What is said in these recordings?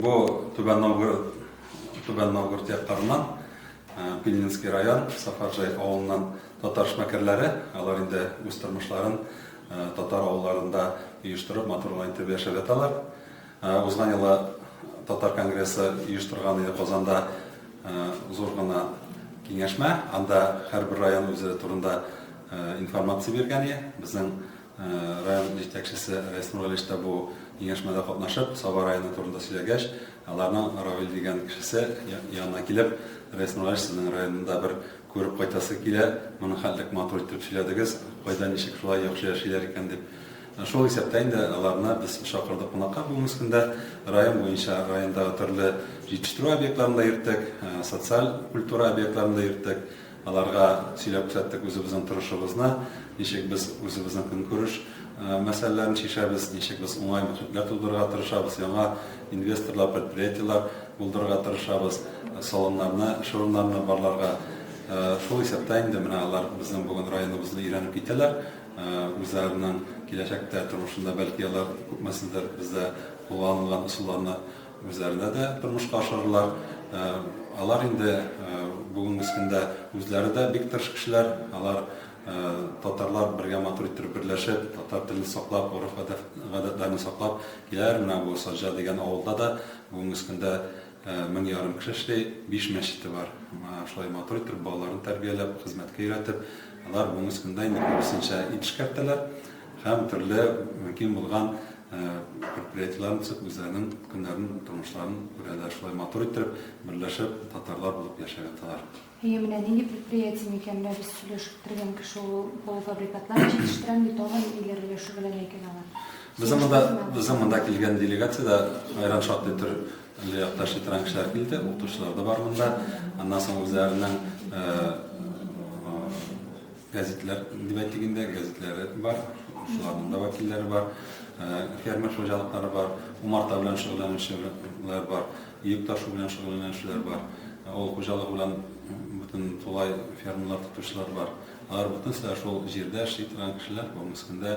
Бу Түбән Новгород, Түбән Новгород якларыннан, Пильнинский район, Сафаржай авылыннан татар шмәкәрләре. Алар инде үз тормышларын татар авылларында оештырып, матурлы итеп яшәп яталар. Узган елы татар конгрессы оештырган иде Казанда зур гына киңәшмә. Анда һәрбер район үзе турында информация биргән иде. Безнең Район җитәкчесе Рәис Нургалиевич та бу киңәшмәдә катнашып, Саба районы турында сөйләгәч, аларның Равил дигән кешесе янына килеп, Рәис Нургалиевич, сезнең районны да бер күреп кайтасы килә, моны хәтлек матур итеп сөйләдегез, кайда ничек шулай яхшы яшиләр икән дип. Шул исәптә инде аларны без чакырдык кунакка бүгенге көндә. Район буенча райондагы төрле җитештерү объектларын да йөрттек, социаль культура объектларын да йөрттек. Аларга сөйләп күрсәттек үзебезнең торышыбызны, ничек без үзебезнең көнкүреш мәсьәләләрен чишәбез, ничек без уңай мөхитләр тудырырга тырышабыз, яңа инвесторлар, предприятиеләр булдырырга тырышабыз, салоннарны, эш урыннарны барларга. Шул исәптә инде менә алар безнең бүген районыбызны өйрәнеп китәләр. Үзләренең киләчәктә тормышында, бәлки, алар күпмесендер бездә кулланылган ысулларны Үзләренә дә тормышка ашырырлар. Алар инде бүгенге көндә үзләре дә бик тырыш кешеләр. Алар татарлар бергә матур иттереп берләшеп, татар телен саклап, гореф-гадәтләрне саклап киләләр. Менә бу Саҗа дигән авылда да бүгенге көндә мең ярым кеше эшли, биш мәчете бар. Шулай матур иттереп балаларын тәрбияләп, хезмәткә өйрәтеп, алар бүгенге көндә инде күбесенчә ит эшкәртәләр һәм төрле мөмкин булган Предприятиеләрен төзеп, үзләренең көннәрен, тормышларын күрәләр. Шулай матур иттереп, берләшеп, татарлар булып яшәп яталар. Әйе, менә нинди предприятие микән? Менә без сөйләшеп торган кеше ул полуфабрикатлар җитештерәм ди, тагын ниләр белән шөгыльләнә икән алар? Безнең монда килгән делегация дә аерым шактый төр якташ ветеран кешеләр килде, укытучылар да бар монда. Аннан соң үзләренең Гәзитләр дебәтигендә гәзитләре бар, шуларның да вәкилләре бар, фермер хуҗалыклары бар, умарта белән шөгыльләнүчеләр бар, йөк ташу белән шөгыльләнүчеләр бар, авыл хуҗалыгы белән бөтен тулай фермалар тотучылар бар. Алар бөтенесе дә шул җирдә эшли торган кешеләр, бүгенге көндә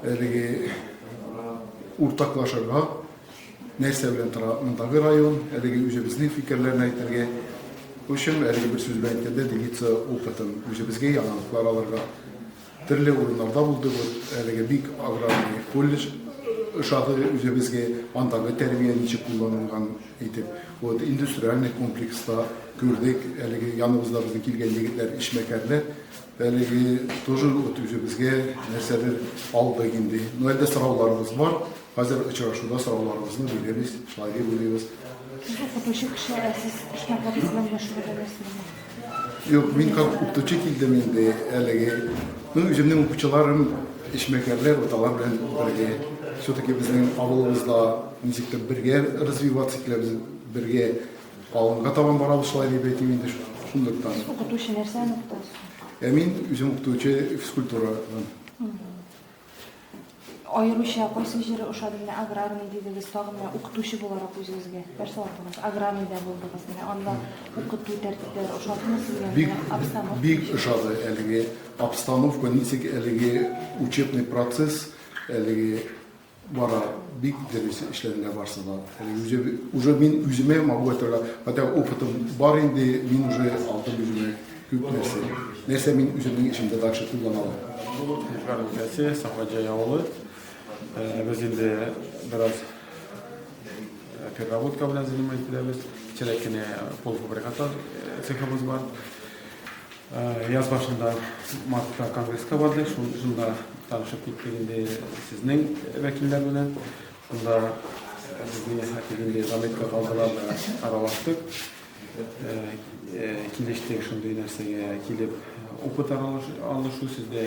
Әлеге уртаклашырга нәрсә белән тора мондагы район, әлеге үзебезнең фикерләрне әйтергә. Өчен әлеге бер сүз белән әйткәндә, делиться опытын үзебезгә яңалыклар алырга. Төрле урыннарда булды бу, әлеге бик аграрный колледж ошады үзебезгә, андагы тәрбия ничек кулланылган итеп. Вот индустриальный комплекста күрдек, әлеге яныбызда безнең килгән егетләр эшмәкәрләр, Әлеге тоже вот үзебезгә нәрсәдер алдык инде. Но әлдә сорауларыбыз бар. Хәзер очрашуда сорауларыбызны бирәбез, шлаги бүлебез. Сез укытучы кеше, ә сез эшмәгәрез белән мәшгульләнәсезме? Юк, мин как укытучы килдем инде әлеге. Ну, үземнең укучыларым эшмәгәрләр, вот алар белән бергә. Все-таки безнең авылыбызда ничектер бергә развиваться киләбез, бергә Алынга табан барабыз шулай дип әйтим инде шундыктан. Укытучы нәрсәне укытасыз? Ә мин үзем укытучы физкультурадан. Аеруча кайсы җире ошады менә аграрный дидегез, тагын менә укытучы буларак үзегезгә нәрсә алдыгыз? Аграрныйда булдыгыз менә, анда укыту тәртипләре ошадымы сезгә? Бик, обстановка бик ошады әлеге обстановка, ничек әлеге учебный процесс, әлеге бара бик дөрес эшләделәр барсы да. Уже мин үземә могу әйтергә, хотя опытым бар инде, мин уже алдым үземә күп нәрсә. Нәрсә мин үземнең эшемдә дальше куллана алам. Бу Ишгар өлкәсе, Сафаҗай авылы. Э, без инде бераз э, переработка белән занимать ителәбез. Кечерәк кенә полуфабрикатлар э, цехыбыз бар. Яз башында мартта конгресска барды, шунда танышып киттек инде сезнең вәкилләр белән. Шунда безне хәтер инде заметка калдылар да аралаштык. Килештек шундый нәрсәгә килеп опыт алышу сездә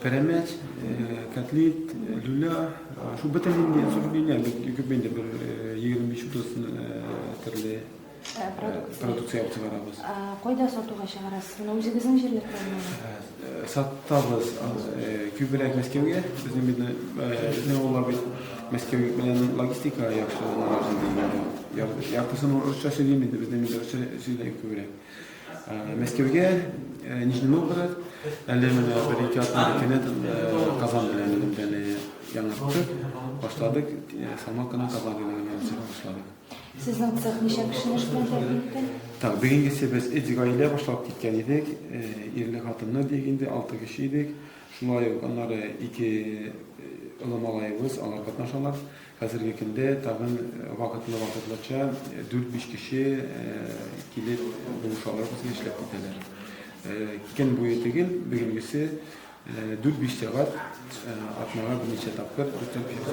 Пәрәмәч, кәтлит, люля, шул бөтен инде сөргеннәр бик күп инде бер 25-30 төрле продукция чыгарабыз. Кайда сатуга чыгарасыз? Менә үзегезнең җирлектәме? Сатабыз. Күбрәк Мәскәүгә. Безнең бит безнең авыллар бит Мәскәү белән логистика яхшы. Яртысын урысча сөйлим инде, безнең русча сөйлим күбрәк. Мәскәүгә, э, Нижний Новгород, әле менә бер-ике атна икене э, Казан белән элемтәне яңарттык, башладык, э, салмак кына Казан белән элемтәне башладык. Сезнең цех ничә кешене эш белән тәэмин итте? Так, бүгенгесе без эти гаилә башлап киткән идек, э, ирле хатыннар диек инде, алты кеше идек. Шулай ук аннары ике э, олы малаебыз, алар катнашалар. Хәзерге көндә тагын вакытлы-вакытлыча дүрт-биш кеше килеп булышалар безгә, эшләп китәләр. Көн буе түгел, бүгенгесе дүрт-биш сәгать атнага берничә тапкыр дүртәр кеше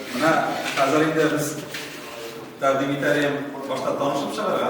Менә хәзер инде без тәкъдим итәләр, башта танышып чыгарга.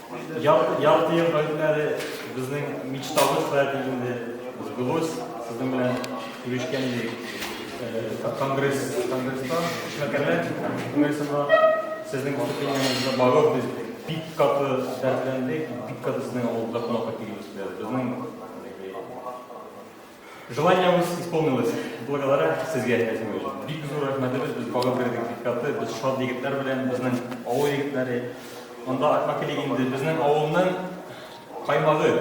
Ярты ел гаепләре безнең мечтабыз хәзер инде сбылось. Сезнең белән күрешкән идек. Конгресс, конгресста эшмәкәрләр күңелсезләр сезнең выступлениеңезне барып без бик каты дәртләндек, бик каты сезнең авылда кунакка килү истәбез. Безнең Желаниебез исполнилось. Благодаря сезгә, Әзмир. Бик зур рәхмәтебез, без багып кердек бик каты, без шат егетләр белән, безнең авыл егетләре. Монда Акма килик инде, безнең авылның каймагы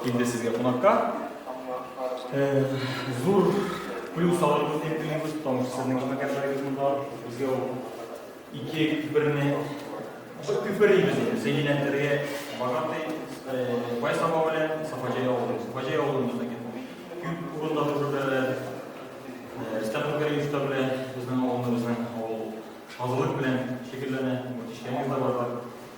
килде сезгә кунакка. Э, зур плюс алырбыз дип уйлыйбыз, потому что сезнең эшмәкәрләрегез монда, безгә ул Ике күперне бу күпер инде Зәйнә Дәргә Багатый Бай Саба белән Сафаҗай авылы. Сафаҗай авылында да күп урында төзеләләр. Стәфан Кариевич белән безнең авылыбызның авыл шазылык белән шөгыльләнә. Мөтишләр дә бар.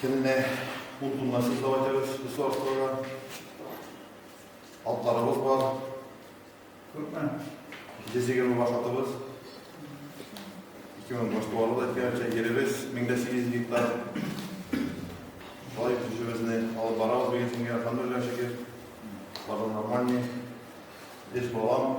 Көненә ун тонна сез дәва итәбез, без сарыкларга. Атларыбыз бар. Күпме? Йөз егерме баш атыбыз. Ике мең баш туары да әйткәнчә, еребез мең дә сигез гектар. Шулай көчебезне алып барабыз бигесенге Алхамдулилла шөкер. Бары нормальный. Эш балам.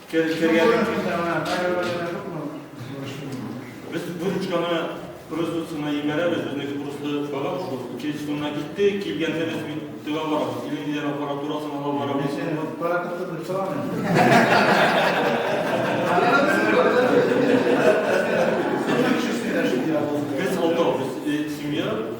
Кер, кергәннән соң сәгать Без бу ручканы производствоны ебәрәбез, безнеке просто багаж шул. Училищены китте, килгәндә без бит тыга барабыз. Телевизор аппаратурасын ала барабыз. Паратыкта дип сорамый. Без алтау, без семья.